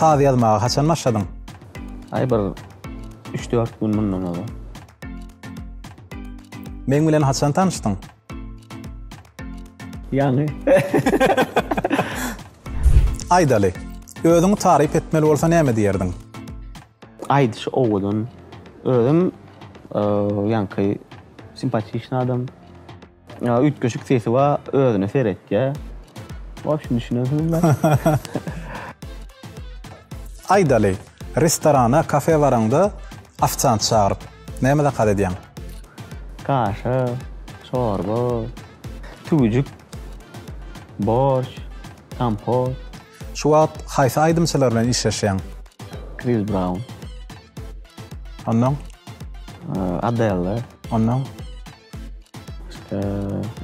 Saz ýazmaga haçan başladyň? Aý bir üç dört gün mundan ozal. Meň bilen haçan tanyşdyň? Ýaňy. Aýdaly, özüňi taryp etmeli bolsa näme diýerdiň? Aýdyşy owadan. Özem ýaňky simpatiçny adam. Üýtgeşik sesi bar, özüne seretýär. Wobşem düşünersiňizler. Aýdaly, restorana, kafe baraňda ofsiant çagyryp, näme zakaz edýäň? Kaşa, çorba, tüwüjik, borş, kompot. Şu wagt haýsy aýdymçylar bilen işleşýäň? Chris Brown. Ondan? Adele. Ondan? Başga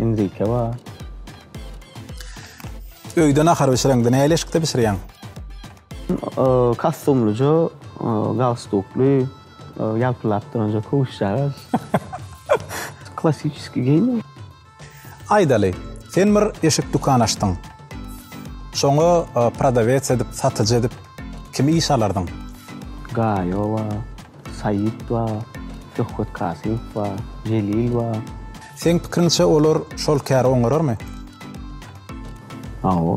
Enrique bar. Öýde nahar bişireňde näli eşikde bişirýäň? Kostyumlyja, galstukly, ýalpyldap duranja köwüşjagaz. Klassikiskiý geýim. Aýdaly, sen bir eşik dükan açdyň. Şoňa prodawec edip, satyjy edip kimi işe alardyň? Gaýo bar, Saýit bar, Söhbet Kasyýew bar, Jelil bar. Seň pikiriňçe olar şol käri oňararmy? Hawa.